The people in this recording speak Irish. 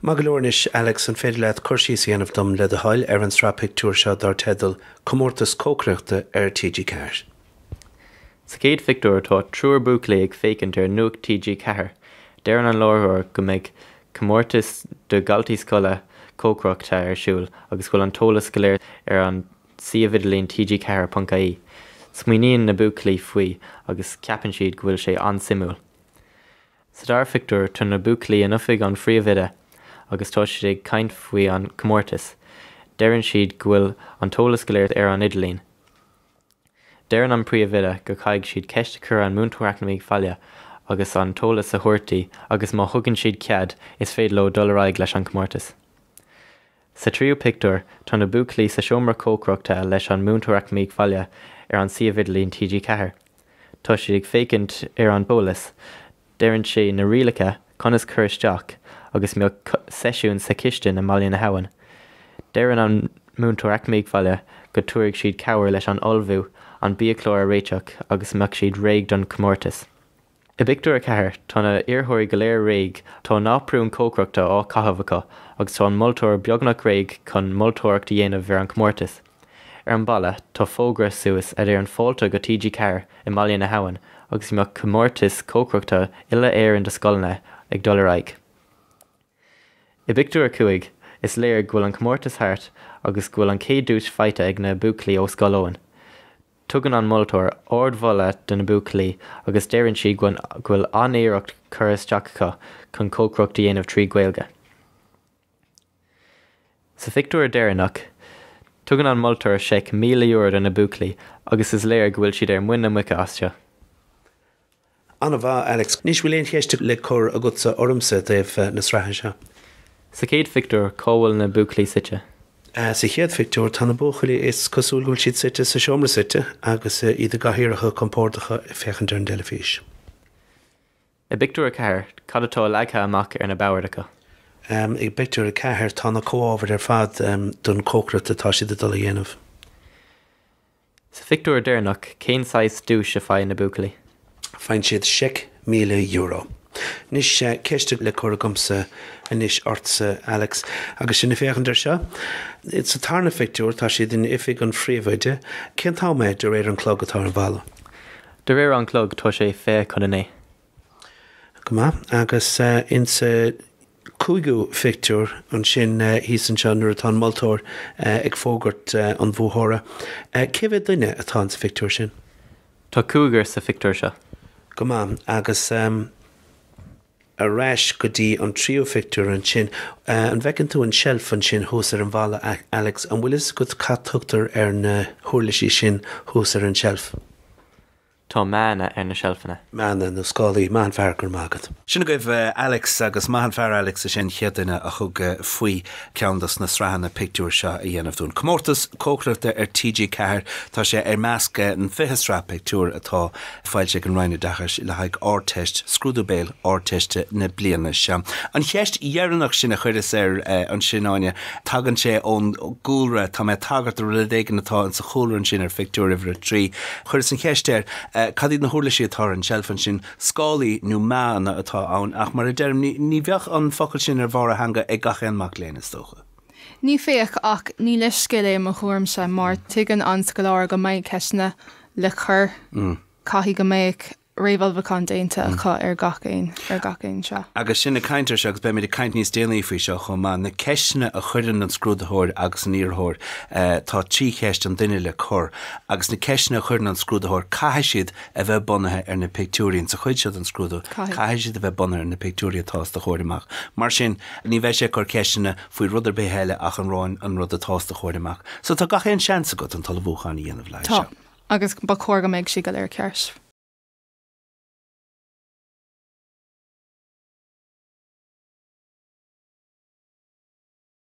Maith go leor anois, Alex, an féidir leat cur síos a dhéanamh dom, le do thoil, ar an tsraith pictiúr seo dár teideal 'Comórtas Cócaireachta' ar TG4? Sa chéad phictiúr tá triúr buachaillí ag féachaint ar Nuacht TG4. Deireann an láithreoir go mbeidh comórtas do dhaltaí scoile cócaireachta ar siúl agus go bhfuil an t-eolas go léir ar an suíomh idirlín TG4.ie. Smaoiníonn na buachaillí faoi agus ceapann siad go bhfuil sé an-suimiúil. Sa dara phictiúr tá na buachaillí in oifig an phríomhoide agus tá siad ag caint faoi an comórtas. Deireann siad go bhfuil an t-eolas go léir ar an idirlíon. Deireann an príomhoide go caithfidh siad ceist a chur an múinteoir eacnamaíocht bhaile agus an t-eolas a thabhairt di agus má thugann siad cead is féidir leo dul ar aghaidh leis an comórtas. Sa tríú pictiúr, tá na buachaillí sa seomra cócaireachta leis an múinteoir eacnamaíocht bhaile ar an suíomh idirlín TG4. Tá siad ag féachaint ar an eolas, deireann sé na rialacha, conas cur isteach agus mbeadh seisiún sa chistin i mBaile na hAbhann. Deireann an múinteoir eacnamaíocht bhaile go dtabharfaidh siad cabhair leis an ullmhú, an biachlár a réiteach agus mbeadh siad réidh don chomórtas. I bpictiúr a ceathair tá na hiarrthóirí go léir réidh, tá naprún cócaireachta á caitheamh acu agus tá an moltóir beagnach réidh chun moltóireacht a dhéanamh ar an gcomórtas. Ar an mballa tá fógra suas a deireann Fáilte go TG4 i mBaile na hAbhann agus go mbeadh comórtas cócaireachta uile Éireann do scoileanna ag dul ar aghaidh. I bpictiúr a cúig is léir go bhfuil an comórtas thart agus go bhfuil an chéad duais faighte ag na buachaillí ó Scoil Eoin. Tugann an moltóir ardmholadh do na buachaillí agus deireann siad go bhfuil an-iarracht curtha isteach acu chun cócaireacht a dhéanamh trí Ghaeilge. Sa phictiúr deireanach, tugann an moltóir seic €1,000 do na buachaillí agus is léir go bhfuil siad ar muin na muice as seo. An-mhaith, Alex. Anois, bhfuil aon cheist le cur agatsa ormsa i dtaobh na sraithe seo? Sa chéad phictiúr, cá bhfuil na buachaillí suite? Sa chéad phictiúr, tá na buachaillí, is cosúil go bhfuil siad suite sa seomra suite agus iad i gcathaoireacha compordacha ag féachaint ar an dteilifís. I bpictiúr a ceathair, cad atá leagtha amach ar na boird acu? I bpictiúr a ceathair, tá na comhábhair ar fad don cócaireacht atá siad ag dul a dhéanamh. Sa phictiúr deireanach, cén saghas duais a faigheann na buachaillí? Faigheann siad seic míle euro. Anois, ceist le cur agamsa anois ortsa, Alex, agus sinn ag féachaint air seo. Sa tarna phictiúr, tá siad in oifig an phríomhoide. Cén t-am é, de réir an chloig, atá ar an bhalla? De réir an chloig, tá sé fiche chun a naoi. Go maith. Agus insa chúigiú phictiúr ansin thíos anseo, nuair atá an moltóir ag fógairt an bhuaiteora, cé mhéad duine atá insa phictiúr sin? Tá cúigear sa phictiúr seo. Go maith. Agus ar ais go dtí an tríú phictiúr ansin. An bhfeiceann tú an tseilf ansin thuas ar an bhalla, Alex? An bhfuil fhios agat cad a thugtar ar na huirlisí sin thuas ar an tseilf? Tá meánna ar na seilfeanna. Meánna nó scálaí, maith an fear go raibh maith agat. Sin agaibh Alex agus maith an fear Alex, is é an chéad duine a thug faoi ceann dos na sraitheanna pictiúr seo a dhéanamh dúinn. Comórtas cócaireachta ar TG4, tá sé i measc an 20 sraith pictiúr atá foilsithe ag an Roinn Oideachais le haghaidh Ardteist, scrúdú béil Ardteiste na bliana seo. An cheist dheireanach sin a chuireas air ansin, Áine, tagann sé ón gcúlra, tá mé ag tagairt do rud éigin atá insa chúlra ansin ar phictiúr uimhir a trí. Chuireas an cheist air cad iad na huirlisí atá ar an tseilf ansin, scálaí nó meánna atá ann, ach mar a deirim, ní bheadh an focal sin ar bharr a theanga ag gach aon mhac léinn, is dócha. Ní bheadh, ach ní leithscéal é i mo thuairimse, mar tuigeann an scoláire go mbeidh ceisteanna le cur, caithfidh go mbeadh. réamhullmhúchán déanta acu ar, ar gach aon seo. Agus sinn ag caint air seo, agus beimid ag caint níos déanaí faoi seo chomh maith, na ceisteanna a chuireann an scrúdaitheoir agus an iarrthóir, tá trí cheist an duine le cur, agus na ceisteanna a chuireann an scrúdaitheoir, caithfidh siad a bheith bunaithe ar na pictiúirí ann sa chuid seo den scrúdú, caithfidh siad a bheith bunaithe ar na pictiúirí atá os do chomhair amach. Mar sin, ní bheidh sé ag cur ceisteanna faoi rud ar bith eile ach an, an rud atá os do chomhair amach. So, tá gach aon seans agat an t-ullmhúchán a dhéanamh le haghaidh seo. Tá. agus ba chóir go mbeadh sé go léir ceart.